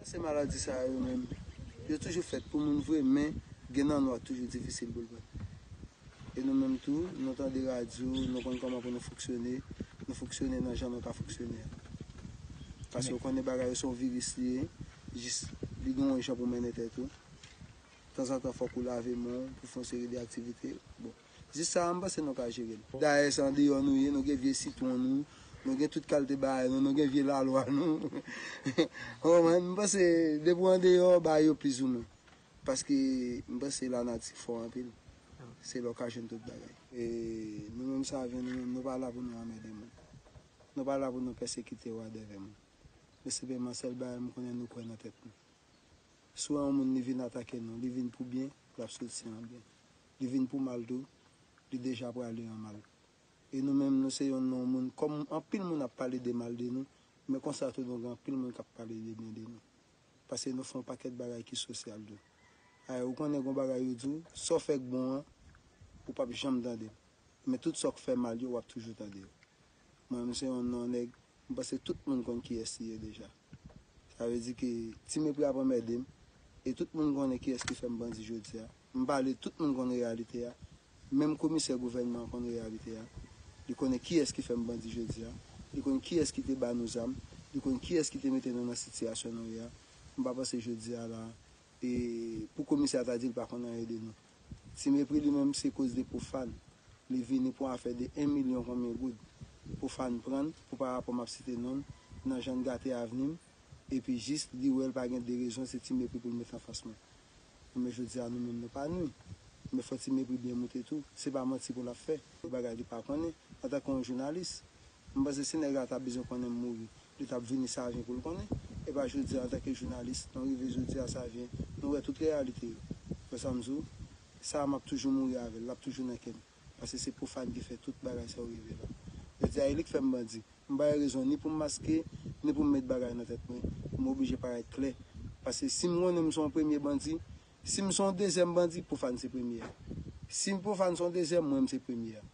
Eske maladi sa yo menm yo toujou fèt pou moun vre men gen nan nou ak toujou difisil pou l bat. E nou menm tou nou tande radyo nou konn kòman pou nou fonksyone, nou fonksyone nan jan nou ka fonksyone a. Paske ou konnen bagay yo se yon viris li ye jis li gen yon jan pou mennen tèt ou. Tanzantan fòk ou lave men w pou fè yon seri de aktivite bon. Jis sa a m panse nou ka jere l. Dayè se andeyò nou ye, nou gen vye sitwon nou, nou gen tout kalte bagay nou, nou gen vye lalwa nou. Ou konprann? M panse depi w andeyò, bagay yo plizoumwen. Paske m panse lanati fò anpil. Se la w ka jwenn tout bagay. E nou menm save, nou menm, nou pa la pou nou anmède moun. Nou pa la pou nou pèsekite wadèvè moun. Men senpleman sèl bagay m konnen nou kwè nan tèt nou. Si w wè yon moun li vin atake nou, li vin pou byen, l ap soti an byen. Li vin pou mal tou, li deja prale an mal. E nou menm nou se yon non moun kòm anpil moun ap pale de mal de nou, men konsa tou nou gen anpil moun kap pale de byen de nou. Pase nou fè yon pakèt bagay ki sosyal tou. Ayè ou konnen gon bagay yo di w, sa w fè k bon an, ou pap janm tande l. Men tout sa w k fè mal yo wap toujou tande yo. Mwen menm se yon non nèg, m panse tout moun konn kiyès li ye deja. Sa vle di ke Ti Mepri ap anmède m, e tout moun konnen kiyès ki fè m bandi jodi a. M pale, tout moun konn reyalite a. Menm komisè gouvènman an konn reyalite a. Li konnen kiyès ki fè m bandi jodi a. Li konn kiyès ki te ba nou zam. Li konn kiyès ki te mete nou nan sitiyasyon nou ye a. M pa panse jodi a la a, e pou komisè a ta di l pa konn anyen de nou. Ti mepri li menm se koz de pofan li vini pou afè de 1 milyon konbyen goud pofan prann pou pa rapò map site nonl nan jann gate avnim epi jis li wèl pa gen de rezon se ti mepri poul met anfas mwen enben jodia nou menm nou pa nwi men fò ti mepri byen moute tou se pa manti poul ap fè de bagay li pa konnen antanke yon jounalis. M panse si nèg la ta bezwen konnen m mouri, li t ap vini Savyen pou l konnen, e pa jodi a antanke jounalis, nou rive jodi a Savyen, nou wè tout reyalite yo. W wè sa m di w? Sa a m ap toujou mouri avè l, l ap toujou nan kè m, paske se Profane ki fè tout bagay sa yo rive la. Jodi a e li k fè m bandi. M pa gen rezon ni pou m maske, ni pou m met bagay nan tèt mwen, pou m oblije parèt klè, paske si m konnen m se yon premye bandi, si m se yon dezyèm bandi, Profane se premye a. Si Profane se yon dezyèm, mwen m se premye a.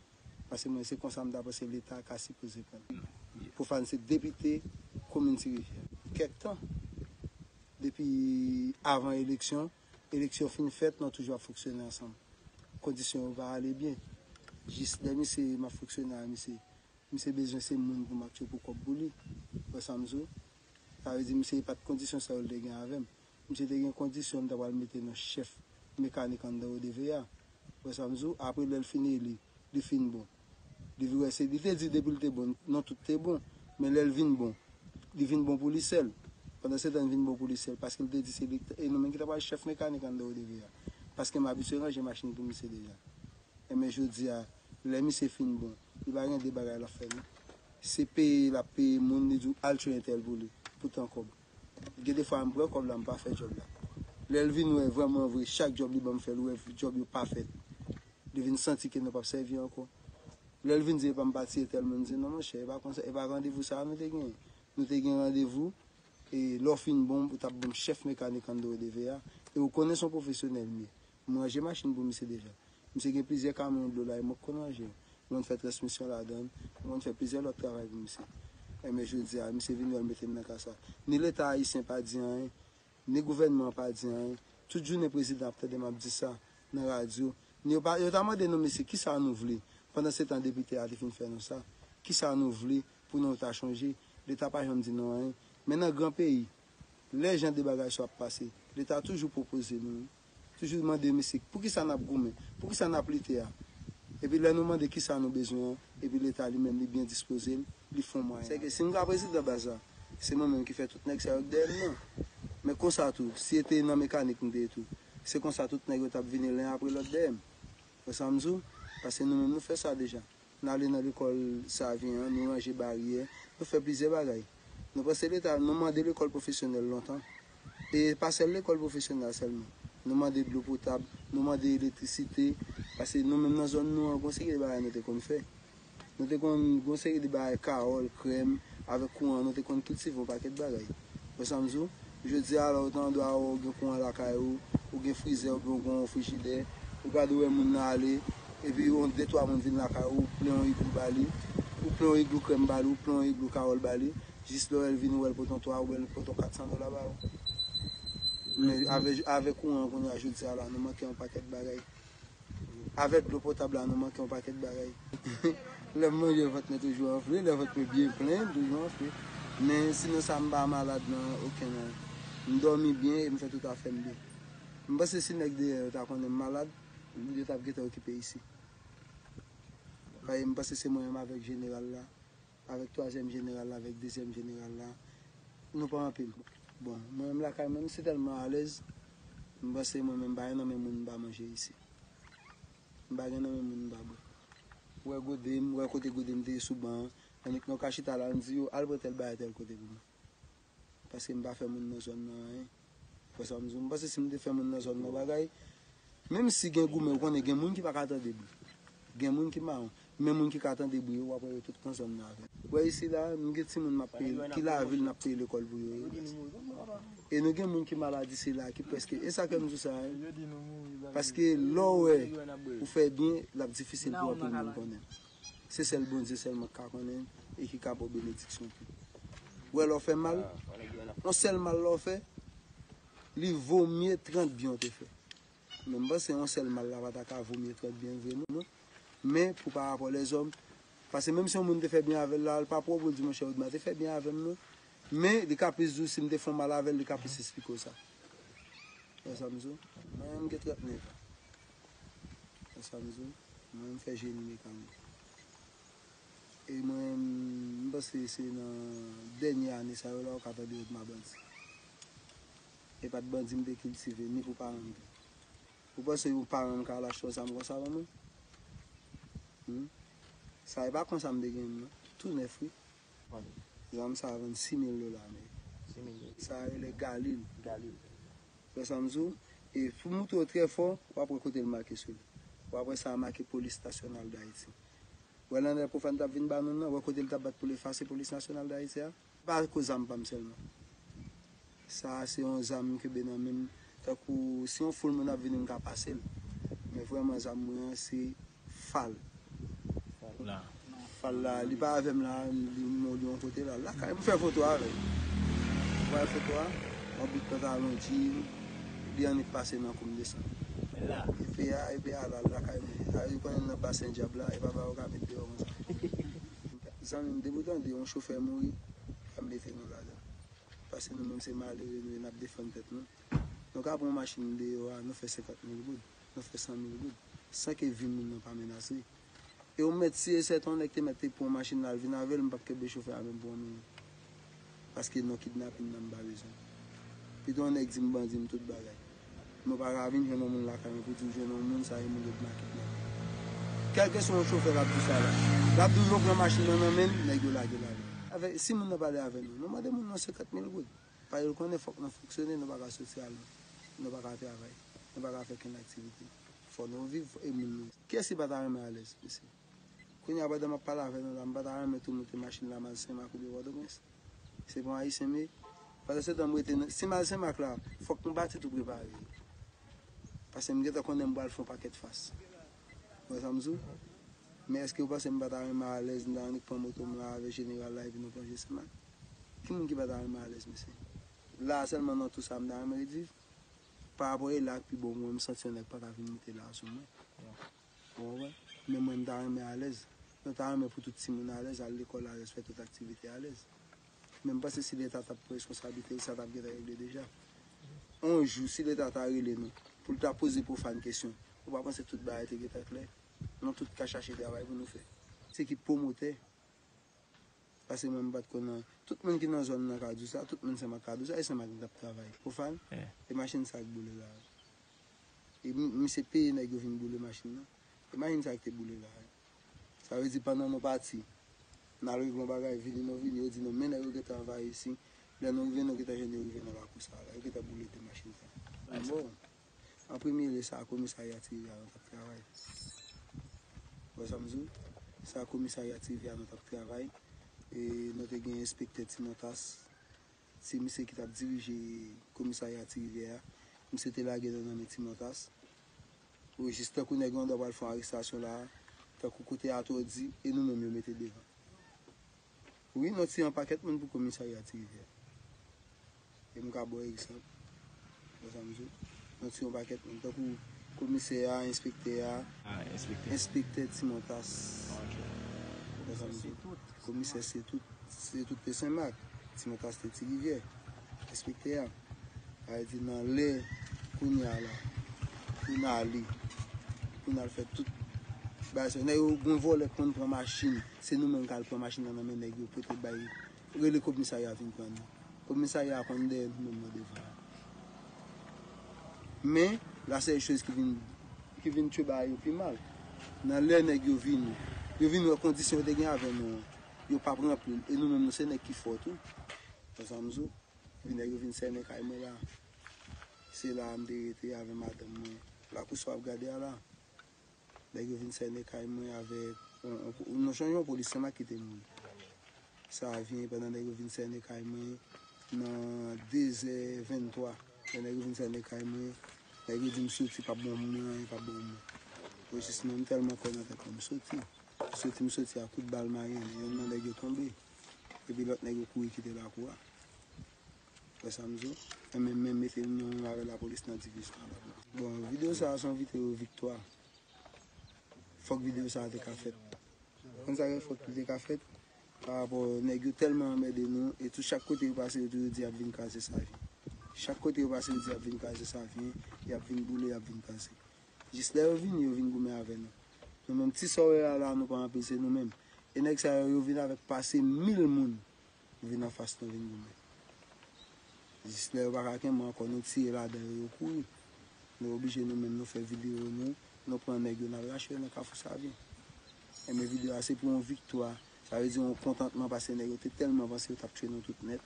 Pase mwen se konsa m ta panse leta ka sipoze pran. Profane se depite komin ti rivyè. Kèk tan. Depi avan eleksyon, eleksyon fin fèt nou toujou ap fonksyone ansanm. Kondisyon yo pa ale byen. Jis lè misye m ap fonksyone a misye. Misye bezwen se moun pou m ap tchopou kòb pou li. Wè sa m di w? Sa vle di misye e pa t kondisyon sa yo l te gen avè m. Misye te gen kondisyon li ta pral mete nan chèf mekanik anndan ODV a. Ou wè sa m di w? Apre lè l fin eli, li fin bon. Li vin wè se, li te di depi l te bon, non tout te bon. Men lè l vin bon, li vin bon pou li sèl. Pandansetan li vin bon pou li sèl paske li te di se li, e nou menm ki ta pral chèf mekanik anndan ODV a. Paske m abitye ranje machin pou misye deja. Enben jodi a, lè misye fin bon, li pa gen de bagay l ap fè non. Se peye l ap peye moun, li di w al tchwe entèl pou li, pou tan kòb. Gen de fwa m pran kòb la m pa fè djòb la. Lè l vin wè vrèman vre chak djòb li ban m fè l wè djòb yo pa fèt. Li vin santi ke nou p ap sèvi ankò. Lè l vin di epa m pa tiye tèlman m di non monchè e pa konsa e pa randevou sa a nou te genyen. Nou te gen randevou e lè w fin bon ou t ap ban m chèf mekanik ann do edeve a e ou konnen s on pwofesyonèl m ye. M ranje machin pou misye deja. Misye gen plizyè kamyon dlo la e mwen k konn ranje yo. M konn fè transmisyon ladan l. M konn fè plizyè lòt travay pou misye. Enben jodi a, misye vin wè l mete m nan ka sa. Ni Leta ayisyen pa di anyen, ni gouvènman an pa di anyen. Tout jounen prezidan ap tande m ap di sa nan radyo. Ni yo pa, yo ta mande nou mesye ki sa nou vle? Pandan se tan depite a te fin fè nou sa. Ki sa nou vle pou nou ta chanje? Leta pa janm di nou anyen. Men nan gran peyi, Lè jan de bagay sa yo ap pase, leta toujou pwopoze nou, toujou mande misik, poukisa n ap goumen, poukisa n ap lite a? Epi lè nou mande kisa nou bezwen an, epi leta li menm li byen dispoze l, li fon mwayen. Se ke si m ka prezidan baz la, se mwen menm ki fè tout nèg sa yo k dèyè m nan. Men konsa tou, si e te nan mekanik m te ye tou, se konsa tout nèg yo t ap vini len apre lòt dèyè m. Ou wè sa m di w? Paske nou menm nou fè sa deja. N ale nan lekòl Savyen an, nou ranje baryè, nou fè plizyè bagay. Nou panse leta, nou mande lekòl pwofesyonèl lontan. E pa sèl lekòl pwofesyonal sèlman. Nou mande dlo potab, nou mande elektrisite, pase nou menm nan zòn nou an gon seri de bagay nou te konn fè. Nou te konn gon seri de bagay kawòl, krèm, avèk kouran nou te konn kiltive yon pakèt bagay. Wè sa m di w? Jodi a la ou ta dwe ou gen kouran lakay ou, ou gen frizè oubyen ou gen yon frijidè, ou gade wè moun nan ale, epi yon de twa moun vin lakay ou, ou plen yon iglou ba li, ou plen yon iglou krèm ba li, ou plen yon iglou kawòl ba li, jis lè ou wè l vini wè l pote yon 3 oubyen l pote yon 400 dola ba ou. Men avè kouran an kounye a jodi a la nou manke yon pakèt bagay. Avèk dlo potab la nou manke yon pakèt bagay. Lè m manje vant mwen toujou anfle, lè vant mwen byen plen m toujou anfle. Men sinon sa m pa malad nan okenn an. M dòmi byen e m fè tout afè m byen. M panse si nèg deyò yo ta konnen m malad, yo t ap gentan okipe isi. Paske m panse se mwen menm avèk jeneral la. Avèk twazyèm jeneral la avèk dezyèm jeneral la nou pa anpil. Bon mwen menm lakay mwen m se tèlman alèz m panse mwen menm m pa gen nan men moun m pa manje isi. M pa gen nan men moun m pa bwè. Wè gode m, wè kote gode m te ye sou ban an. Annik nou ka chita la n di yo al pran tèl bagay tèl kote pou mwen. Paske m pa fè moun nan zòn nan anyen. Ou wè sa m di w? M panse si m te fè moun nan zòn nan yon bagay, menm si gen goumen, ou konnen gen moun ki pa ka tande bri. Gen moun ki mawon. Men moun ki ka tande bri yo, w ap wè yo tout nan zòn nan avè m. Ou wè isila, nou gen timoun m ap peye, ki lavil m ap peye lekòl pou yo ye. E nou gen moun ki maladi sila a ki prèske. E sa fè m di w sa a? Paske lè w wè ou fè byen, l ap difisil pou anpil moun konnen. Se sèl Bondye sèlman ki ka konnen e ki ka ba w benediksyon tou. Ou wè lè w fè mal, yon sèl mal lè w fè, li vo mye 30 byen w te fè. Men m panse yon sèl mal la pa ta ka vo mye 30 byen vre non. Men pou pa rapò lèzòm, pase menm si yon moun te fè byen avè l la, l pa pran pou l di monchè Odma te fè byen avè m non. Men li ka plis di w si m te fè yon mal avè l, li ka plis esplike w sa. Ou wè sa m di w? Mwen menm m gen 39 an. Wè sa m di w? Mwen m fè jeni mekanik. E mwen m panse se nan dènye ane sa yo la ou ka tande yo di m a bandi. E pa t bandi m te kiltive ni pou paran m tou. Ou panse yon paran m ka al achte yon zam konsa ban mwen? Hum! Sa e pa konsa m te gen l non. Tou nèf wi. Vann. Zam sa a vann 6 mil dola ameriken. 6 mil dola. Sa a rele Galil. Galil. Ou wè sa m di w? E pou m montre w trè fò, w ap wè kote l make sou li. W ap wè sa a make Polis Nasyonal Dayiti. Wè l anlè Pwofàn t ap vin ba moun nan? Wè kote l t ap bat pou l efase Polis Nasyonal Dayiti a? Pa ko zam pa m sèlman. Sa a se yon zam m kenbe nan men m. Tankou si yon foul moun ap vini m ka pase l. Men vrèman zam mwen an se fal. Fal la, li pa avè m la a, li nan yon kote la. Lakay m fè foto avè l. M pran foto a, m ap bout pantalon, djin, li annik pase nan kou m desann. Epe a, epe a la lakay mwen. A yo konnen m nan basen dyab la, e pa ba yo ka met deyò konsa. Zanmi m, depi w tande yon chofè mouri, pa mete nou ladan l. Paske nou menm se malere nou ye, n ap defann tèt nou. Nou ka pran yon machin deyò a, nou fè senkant mil goud, nou fè san mil goud, san ke vi moun nan pa menase. E ou mèt si e sèten yon nèg te mèt te pran yon machin la l vin avè l, m p ap kenbe chofè a menm pou yon minit. Paske non kidnapin nan m pa bezwen l. Pito yon nèg di m bandi m tout bagay. Nou pa ka vin jwenn yon moun lakay mwen pou di w jwenn yon moun sa e moun yo di m a kidnape l. Kèlkeswa yon chofè l ap di w sa la. L ap di w yo pran machin nan nan men l, nèg yo lage l ale. Si moun nan pale avè nou, nou mande moun nan senkant mil goud. Paske l konnen fòk nou fonksyone, nou pa ka soti al lwen. Nou pa ka travay. Nou pa ka fè okenn aktivite. Fò nou viv e moun nou. Kiyès ki pa ta renmen alèz, mesye? Kounya pandan map pale avè nou la m pata renmen tou moute machin la mal senmak oubyen pòtoprens se bon ayisyen m ye pandan se tan m rete nan si mal senmak la fòk m pati tou prepare yo pase m gentan konnen m pral fon pakèt fas ou wè sa m di w men eske ou panse m pata renmen alèz m ta annik pran moto m la avè jeneral la epi nou plonje senmak ki moun ki pata renmen alèz mesye la sèlman nan tou sa m ta renmen ret viv parapò e la ak pi bon mwen m santi yon nèg pata vin moute la sou mwen. Ou wè, men mwen m ta renmen alèz. Mwen ta renmen pou tout timoun alèz, al lekòl alèz, fè tout aktivite alèz. Men m panse si leta ta pran reskonsablite l, sa t ap gentan regle deja. On jou, si leta ta rele nou, pou l ta poze Profane kesyon, ou pa panse tout bagay te gentan klè? Nou tout ka chache travay pou nou fè. Se ki pwomotè? Pase mwen mpat konn an. Tout moun ki nan zòn nan ka diw sa, tout moun sèm ak kadou sa e sèm ak nou tap travay. Profan, e machin sa ak boule la? E misye peye nèg yo vin boule machin nan? E machin sa ak te boule la? Sa vle di pandan nou pati, nal regle yon bagay vini nou vini yo di nou men nèg yo gentan anvayi isin, lè nou rive nou gentan jwenn yo rive nan lakou sa la, yo gentan boule 2 machin sa. Bon. An premye lye sa komisarya ti rivyè a nou t ap travay. Ou wè sa m di w? Sa komisarya ti rivyè a nou t ap travay. E nou te gen enspektè ti Montas. Se misye ki t ap dirije komisarya ti rivyè a. Misye te lage nou nan men ti Montas. O jis tankou nèg lan dwa pral fè yon arestasyon la a. Tankou kote atò di e nou menm yo mete devan. Wi mwen tiye yon pakèt moun pou komisarya ti rivyè e m ka baw egzanp wè sa m di w mwen tiye yon pakèt moun tankou komisè a enspektè a enspektè ti montas wè sa m di w komisè se tout se tout te senmak ti montas te ti rivyè enspektè a sa vle di nan lè kounye a la pou n ale pou n al fè tout bagay sa yo nèg yo gon vòlè k konn pran machin. Se nou menm kal pran machin nan nan men nèg yo pote bay rele kobmisarya vin pran nou. Kobmisarya a konn dèyè nou menm nan devan an. Men, la sèl choz ki vin ki vin tchwe bagay yo pi mal. Nan lè nèg yo vini, yo vin wè kondisyon yo te gen avè nou an, yo pap ranpli l e nou menm nou se nèg ki fò tou. Wè sa m di w? Epi nèg yo vin sènen kay mwen la. Se la a m te rete avè madanm mwen. Lakou sa w ap gade a la. Nèg yo vin sène kay mwen avèk yon jan yon polisye ma kite moun. Sa vyen pandan nèg yo vin sène kay mwen nan 2 zè 23. Lè nèg yo vin sène kay mwen, nèg yo di m soti pa ban moun nan anyen, pa ban moun. Mwen jis menm tèlman kwè nan tèt mwen, m soti. M soti, m soti a kout bal mayèn. Yonn nan nèg yo tonbe. Epi lòt nèg yo kouri kite lakou a. Wè sa m di w? Enben men mete l non menm avè lapolis nan divizyon anba bò. Bon video sa a se yon video viktwa. Fòk video sa a te ka fèt. Ou konn sa k fè fòk li te ka fèt? Parapò nèg yo tèlman anmède nou e tou chak kote yo pase yo toujou di y ap vin kraze Savyen. Chak kote yo pase yo di y ap vin kraze Savyen, y ap vin boule, y ap vin kraze. Jis lè yo vini yo vin goumen avè nou. Nou menm ti sa w wè a la nou pa anpil se nou menm. E nèg sa yo yo vin avèk pase mil moun. Nou vin anfas nou vin goumen. Jis lè yo pa ka kenbe ankò nou tire ladan yo, yo kouri. Nou oblije nou menm nou fè videyo nou, nou pran nèg yo nal rache yo nan kafou savyen. Enben videyo a se pou yon viktwa, sa vle di yon kontantman pase nèg yo te tèlman vanse yo tap tchwe nou tout nèt,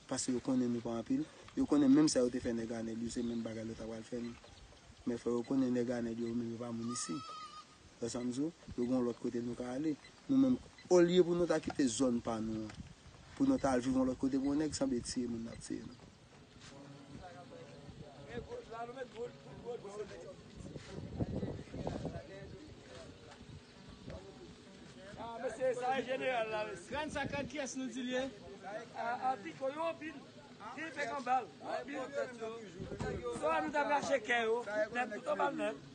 pase yo konnen nou pa anpil, yo konnen menm sa yo te fè nèg anèl yo se menm bagay yo ta pral fè nou. Men fò yo konnen nèg anèl yo yo menm yo pa moun isi. Wè sa m di w? Yo gen yon lòt kote nou ka ale. Nou menm, olye pou nou ta kite zòn pa nou an, pou nou ta al viv yon lòt kote pou yon nèg sanble tiye moun nan ap tiye nou.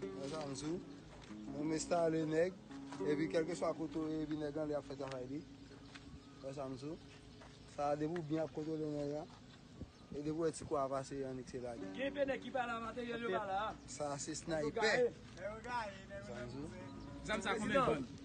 Konsa m sou. Bon m estale nèg. Epi kelke swa kote ou ye epi nèg lan li ap fè travay li. Konsa m sou. Sa a depi ou byen ap kontwole nèg lan. E depi ou wè ti kou a pase annik se lage. Gen enpe nèg ki pa la materyèl yo pa la. Sa a se snaypè. Konsa m sou. Zam sa a konbyen l vann?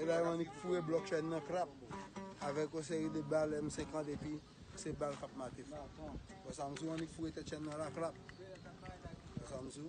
Ebyen annik foure blòk chèn nan krap avèk yon seri de bal M50 epi se bal kap mate fò. Wè sa mzou annik foure tèt chèn nan la krap. Wè sa mzou.